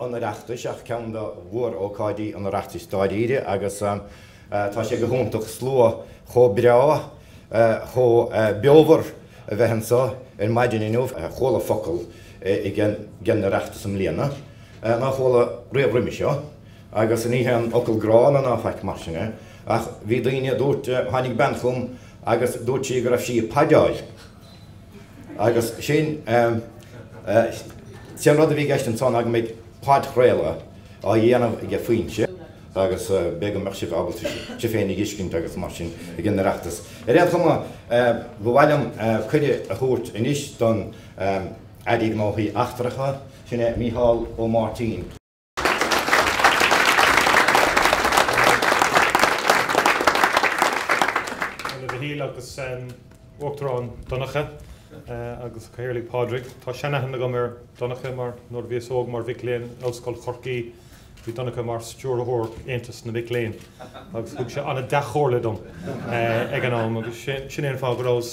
an Oireachtais ach ceann de mhór-ócáidí an Oireachtais dáiríre agus tá sé go hiontach slua chomh breá, chomh beomhar a bheith anseo ar maidin inniu. Chuala focal ag an Oireachtas i mbliana nár chuala riamh roimhe seo agus ní haon fhocal gránna ná faic mar sin é ach bhí daoine a dúirt, tháinig bean chugam agus dúirt sí go raibh sí ag podáil. Agus sin an rud a bhí i gceist ansan go mbeidh podchraoladh á dhéanamh aige Foinse agus b'fhé' go mbeadh sibh ábalta sibh féinig a fheiscint agus mar sin ag an Oireachtas. Ar aon chuma, ba mhaith liom cuireadh a thabhairt anois don Aire Gnóthaí Eachtracha, sin é Micheál Ó Máirtín. A Mhichíl agus Uachtarán Donncha agus a Chathaoirligh Pádraig. Tá seanaithne agam ar Dhonncha mar nuair a bhíos óg mar mhic léinn in Ollscoil Chorcaí bhí Donncha mar stiúrthóir Aontas na Mic Léinn agus thug sé an-dea-chomhairle dom ag an am agus sin é an fáth go rabhas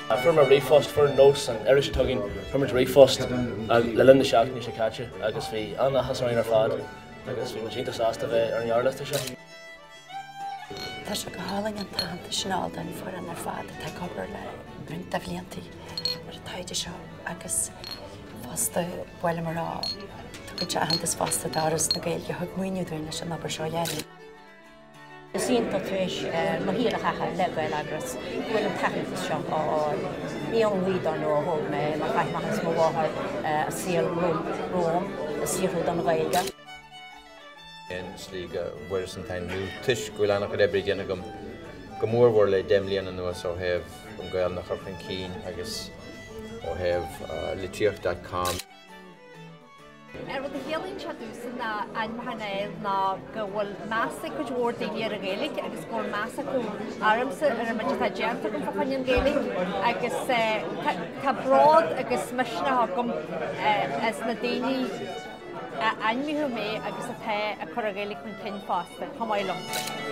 Fuair muid ríomhphost, fuair nós an iris atá againn, fuair muid ríomhphost le linn na seachtaine seo caite agus bhí an-áthas orainn ar fad agus bhí muid iontach sásta a bheith ar an ngearrliosta seo. Tá sé go hálainn an t-aitheantas sin a fháil don foireann ar fad atá ag obair le roinnt de bhlianta ar an taighde seo agus fosta ba mhaith liom a rá go dtéann aitheantas fosta d'Fhoras na Gaeilge a thug maoiniú dúinn leis an obair seo a dhéanamh. Is iontach tar éis mo shaoil a chaitheamh le Gaeleagras go bhfuil an t-aitheantas seo á fháil. Ní ón ngaoth dar ndóigh a thóg mé é mar chaith m'athair is mo mháthair a saol romham ag saothrú don Ghaeilge. i slí go bhfuaireas an t-ainmniú toisc go bhfuil an-chuid oibre déanta agam go mór mhór le deich mbliana anuas ó thaobh an Ghaelainn a chur chun cinn agus ó thaobh litríocht.com. An rud a chiallaíonn sé domhsa an t-ainmniúchán a fháil ná go bhfuil meas ag cuid mhór daoine ar an Ghaeilge agus go bhfuil meas acu ormsa ar an méid atá déanta agam fá choinne an Ghaeilge agus tá bród agus misneach agam as na daoine a ainmníodh mé agus atá ag cur an Ghaeilge chun cinn fosta, chomh maith liom.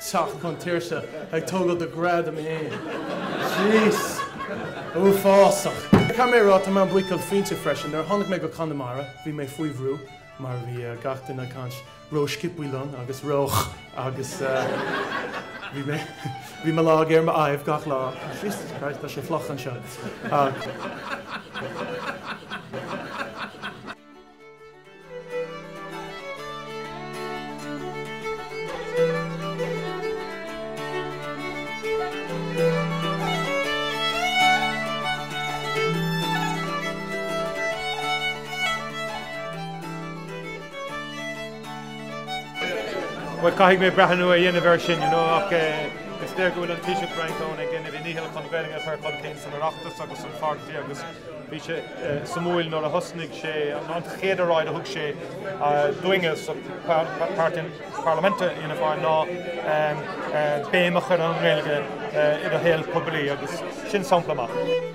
teacht chun tuirse, ag tógáil do ghradam fhéin. Jeez. Uafásach. Caithfidh mé a rá, tá mé an-bhuíoch Foinse freisin. Nuair a tháinig mé go Conamara, bhí mé faoi bhrú, mar bhí gach duine ag caint ró-sciopthaí liom agus ró agus bhí mé, bhí mo lámh ar m'aghaidh gach lá, Jesus Christ, tá sé fliuch anseo. Bhuel, caithfidh mé breathnú a dhéanamh ar sin, you know, ach is léir go bhfuil an Taoiseach Brian Cowen ag déanamh a dhícheall chun Gaeilge a chur chun cinn san Oireachtas agus san pháirtí agus, Bhí sé suimiúil nuair a thosnaigh sé, an chéad oráid a thug sé dúinne sa Páirtí Parlaiminte i Fhianna Fáil ná béim a chur ar an nGaeilge i do shaol poiblí agus sin sampla maith.